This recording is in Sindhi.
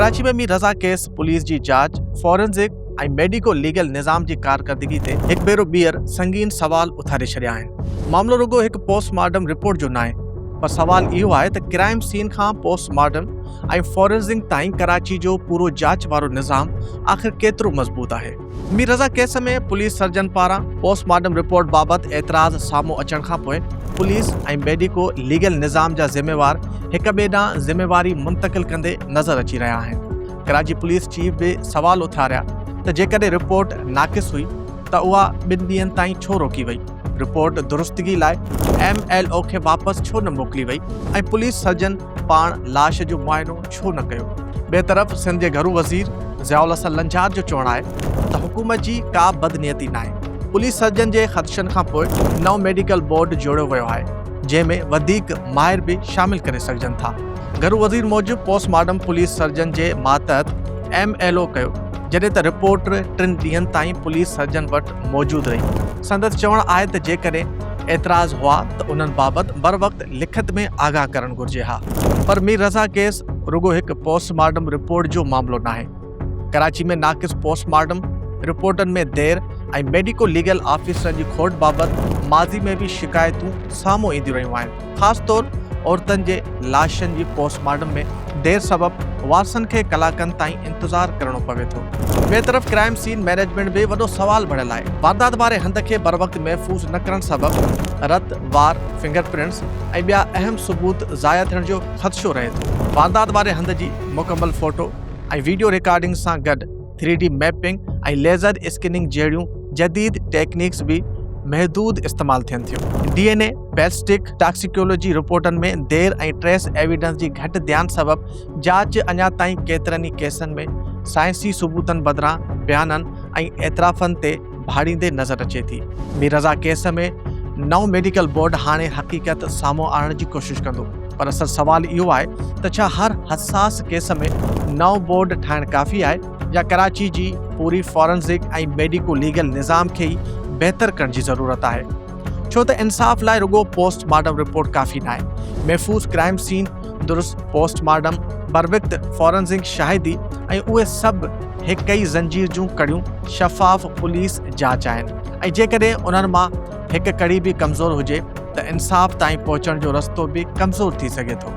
ڪراچي ۾ مير رضا ڪيس پوليس جي جاچ، فورنزڪ ۽ ميڊيڪو ليگل نظام جي ڪارڪردگي تي هڪ ڀيرو ٻيهر سنگين سوال اٿاري ڇڏيا آهن. معاملو رڳو هڪ پوسٽ مارٽم رپورٽ جو ناهي پر سوال اهو آهي ته ڪرائيم سين کان پوسٽ مارٽم ۽ فورنزڪ تائين ڪراچي جو پورو جاچ وارو نظام آخر ڪيترو مضبوط آهي؟ Mir Raza case ۾ police surgeon پاران پوسٽ مارٽم رپورٽ بابت اعتراض سامهون اچڻ کان پوء پوليس ۽ ميڊيڪو ليگل نظام جا ذميوار هڪ ٻئي ڏانهن ذميواري منتقل ڪندي نظر اچي رهيا آهن ڪراچي پوليس چيف به سوال اٿاريا ته جيڪڏهن رپورٽ ناقص هئي ته اها ٻن ڏينهن تائين ڇو روڪي وئي رپورٽ درستگي لاء ايم ايل او کي واپس ڇو نه موڪلي وئي ۽ پوليس سرجن پاڻ لاش جو معائنو ڇو نه ڪيو؟ ٻئي طرف سنڌ جي گهرو وزير ضياء الحسن لنجار جو چوڻ آهي ته حڪومت جي ڪا به بدنيتي ناهي، پوليس سرجن جي خدشن کانپوء نئون ميڊيڪل بورڊ جوڙيو ويو آهي، جنهن ۾ وڌيڪ ماهر به شامل ڪري سگهجن ٿا. گهرو وزير موجب پوسٽ مارٽم پوليس سرجن جي ماتحت ايم ايل او ڪيو، جڏهن ته رپورٽ ٽن ڏينهن تائين پوليس سرجن وٽ موجود رهي. سندس چوڻ آهي ته جيڪڏهن اعتراض هئا ته انهن بابت بروقت لکت ۾ آگاهه ڪرڻ گهرجي ها پر مير رضا ڪيس رڳو هڪ پوسٽ مارٽم رپورٽ جو معاملو ناهي ڪراچي ۾ ناقص پوسٽ مارٽم رپورٽن ۾ دير ۽ ميڊيڪو ليگل آفيسرن جي کوٽ بابت ماضي ۾ به شڪايتون سامهون اينديون رهيون آهن خاص طور عورتن جي لاشن جي پوسٽ مارٽم ۾ دير سبب وارثن کي ڪلاڪن تائين انتظار ڪرڻو پوي ٿو ٻي طرف ڪرائم سين مينيجمينٽ به وڏو سوال بڻيل آهي واردات واري هنڌ کي بروقت محفوظ نه ڪرڻ سبب رت وار فنگر پرنٽس ۽ ٻيا اهم ثبوت ضايع ٿيڻ جو خدشو رهي ٿو. واردات واري هنڌ جي مڪمل فوٽو ۽ ويڊيو ريڪارڊنگ سان گڏ three D mapping ۽ laser scanning جهڙيون جديد ٽيڪنيڪس به محدود استعمال ٿين ٿيون. D N A, ballistic, toxicology رپورٽن ۾ دير ۽ ٽريس ايويڊنس جي گهٽ ڌيان سبب جاچ اڃا تائين ڪيترن ئي ڪيسن ۾ سائنسي ثبوتن بدران بيانن ۽ اعترافن تي ڀاڙيندي نظر اچي ٿي. مير رضا ڪيس ۾ نئون ميڊيڪل بورڊ هاڻي حقيقت سامهون آڻڻ جي ڪوشش ڪندو پر اصل سوال اهو آهي ته ڇا هر حساس ڪيس ۾ نئون بورڊ ٺاهڻ ڪافي آهي يا ڪراچي جي پوري فارنزڪ ۽ ميڊيڪو ليگل نظام کي ئي بهتر ڪرڻ جي ضرورت آهي ڇو ته انصاف لاء رڳو پوسٽ مارٽم رپورٽ ڪافي ناهي محفوظ ڪرائيم سين درست پوسٽ مارٽم، بروقت فورنزڪ شاهدي ۽ اهي سڀ هڪ ئي زنجير جون ڪڙيون شفاف پوليس جاچ آهن ۽ جيڪڏهن انهن مان هڪ ڪڙي به ڪمزور هجي ته انصاف تائين پهچڻ جو رستو به ڪمزور ٿي سگهي ٿو.